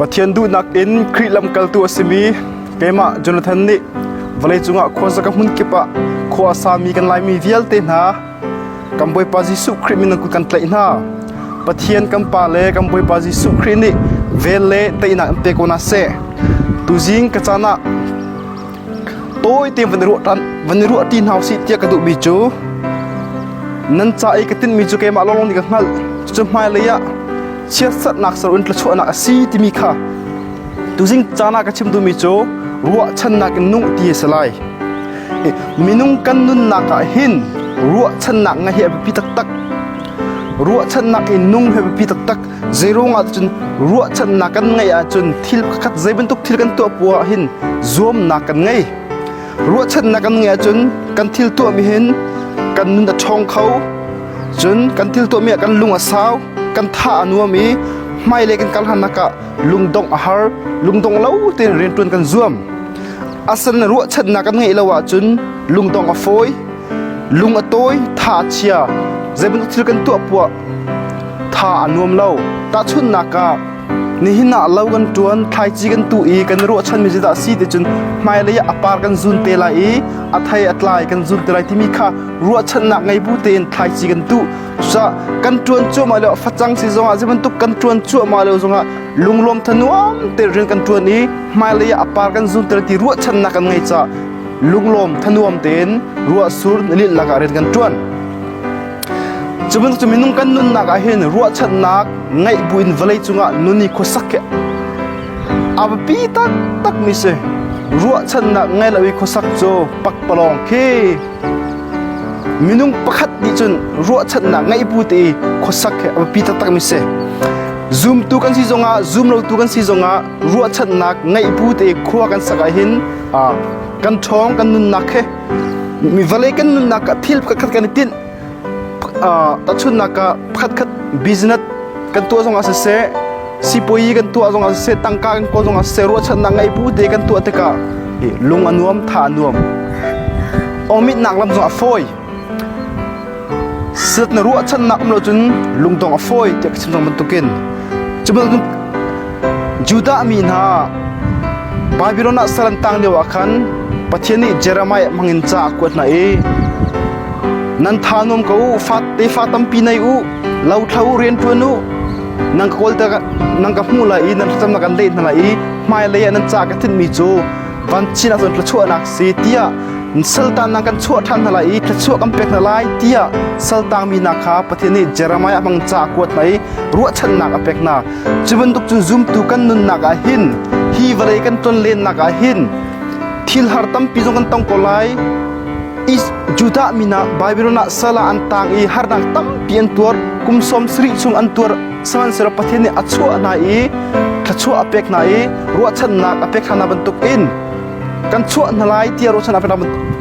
Pathian duhnak in Khrih lamkaltu a simi keimah Jonathan nih vawleicung ah khuasa ka hmun kip ah khua a sami kan Laimi vialte hna kan Bawipa Jesuh Khrih min in kut kan tlaih hna. Pathian kan Pa le kan Bawipa Jesuh Khrih nih vel le teinak in pe ko hna seh. Tuzing ka caan ah Tawi te van ruah ṭan, van i ruah ti hna usih tiah ka duhmi cu nan ca i ka tinhmi cu keimah lawnglawng nih ka hngalh. Cucu hmailei ah siasatnak saruun thluachuahnak a si timi kha tuzing caan ah ka chim duhmi cu ruahchannak in nung ti a si lai. Minung kan nunnak ah hin ruahchannak ngaih hi a biapi taktak. Ruahchannak in nung hi a biapi taktak. Zeiruangah cun ruahchannak kan ngeih ahcun thil pakhat zei bantuk thil kan tuah puah ah hin zuamnak kan ngei. Ruahchannak kan ngeih ahcun kan thil tuahmi hin kan nun a ṭhawng kho. Cun kan thil tuahmi ah kan lung a sau, kan tha a nuam i hmailei kan kal hlannak ah lungdong a har, lungdong lo tein rianṭuan kan zuam. Asan ruahchannak kan ngeih lo ahcun lungdong a fawi, lung a tawi, tha a chia. Zei bantuk thil kan tuah puah Tha a nuam lo. Tahchunhnak ah, nihin ah lo kan ṭuan, thlaici kan tuh i kan ruahchanmi cu dah a si ticun hmailei ah a par kan zun te lai i a thei a tlai kan zun te lai timi kha ruahchannak ngei bu tein thlaici kan tuh. Cucah kan ṭuan cuahmah lio facang si zongah zei bantuk kan ṭuan cuahmah lio zongah lunglawm thanuam tein rian kan ṭuan i hmailei ah a par kan zun te lai ti ruahchannak kan ngei caah lunglawm thanuam tein ruahsur nilinh lakah rian kan ṭuan. Cu bantuk cu minung kan nunnak ah hin ruahchannak ngeih buin vawlei cungah nun i khuasak hi a biapi taktakmi si. Ruahchannak ngei lo i khuasak cu pakpalawng khi minung pakhat nih cun ruahchannak ngeih bu te i khuasak hi a biapi taktakmi si. Zumtu kan si zongah zum lotu kan si zongah ruahchannak ngeih bu te khua kan sak ah hin kan ṭhawng kan nunnak hi Mi vale kan nunnak ah thil pakhatkhat kan i tinh. Tahchunhnak ah pakhatkhat business kan tuah zongah siseh, sipuai kan tuah zongah siseh, tangka kan kawl zongah siseh, ruahchannak ngei bu te kan tuah tikah lung a nuam, tha a nuam. Awmitnak lam zongah fawi. Set na ruahchannak um lo cun lungdong a fawi tiah ka chim cang bantukin cubantuk Judah mi hna Babilon ah sal an tang lio ah khan Pathian nih Jeremiah hmangin ca a kuat hna i nan thanum ko u tefa tampi nei u lothlo u rianṭuan u nan ka kawl nang ka hmuh lai i nan thlacamnak kan leh hna lai i hmailei ah nan ca ka thinhmi cu van chin ahcun thluachuahnak si tiah sultan nang kan chuah ṭhan hna lai i thluachuah kan pek hna lai tiah saltang mi hna kha Pathian nih Jeremiah bang ca kuat hna i ruahchannak a pek hna cu bantuk cun zumtu kan nunnak ah hin hi vawlei kan ton lennak ah hin thil har tampi zong kan tong ko lai Judah mi na Babilon ah sala an tang i harnak tampi an tuar kum sawm sarih chung an tuar sihmanhsehlaw Pathian nih a chuah hna i thluachuah a pek hna i ruahchannak a pek hna bantukin kan chuah hna lai tiah ruahchan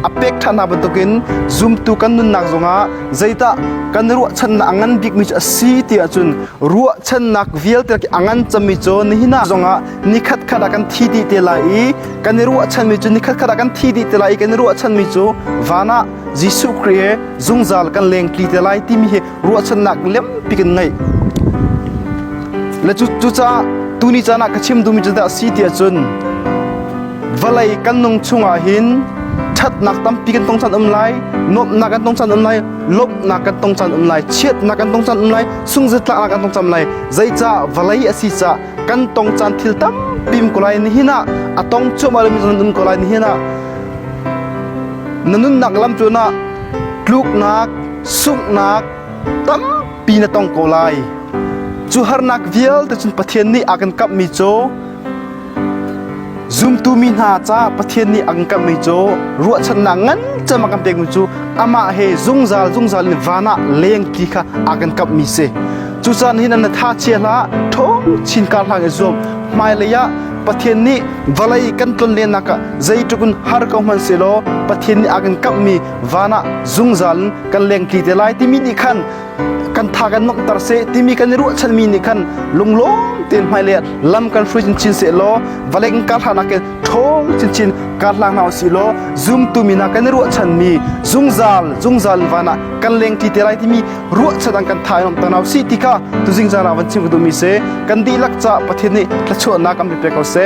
a pek ṭhan hna bantukin zumtu kan nunnak zongah zeidah kan ruahchannak a ngan bikmi cu a si ti ahcun ruahchannak vialte a ngan cemmi cu nihin zongah nikhatkhat ah kan thi dih te lai i kan i ruahchanmi cu nikhatkhat ah kan thi dih te lai i kan i ruahchanmi cu van ah Jesuh Christ he zungzal kan lengtli te lai timi hi ruahchannak lempi kan ngeih le cucaah tuni caan ah ka chim duhmi cu dah si tiah cun vawlei kan nung chungah hin ṭhatnak tampi kan tong caan um lai nuamhnak kan tong caan um lai lawmhnak kan tong caan um lai chiatnak kan tong caan um lai sungzetlaknak kan tong caan um lai zeicah vawlei a si cah kan tong caan thil tampi um ko lai ni hin ah a tong cuahmah lomi caan um ko lai ni hin ah na nunnak lam cu na tluknak Sunghnak tampi na tong ko lai. Cu harnak vialte cun Pathian nih a kan kamhmi cu zumtu mi hna caah Pathian nih a kan kamhmi cu ruahchannak ngan cem a kan pekmi cu amah he zungzal zungzal in van ah leng ti kha a kan kamhmi si. Cucaah nihin na tha chia hlah, ṭho chin kar hlang i zuam. Hmailei ah Pathian nih vawlei kan tlonlennak ah zeitluk in har ko hmanh sehlaw Pathian nih a kan kamhmi van ah zungzal in kan lengtli te lai timi nih khan kan tha kan makter se timi kan i ruahchanmi nih khan lunglawm tein hmai le lam kan hruai chinchin se law valeng ka hlanak ke ṭhol chinchin ka hlang na si law zumtu mi na kan ruahchan mi zungzal zungzal van ah kan lengtli te lai timi ruahchan ang kan thai nom ta naw si ti kha tu zingzara van chim ka du mi se kan dihlak ca pathian nih thlachuahnak kan pe ko se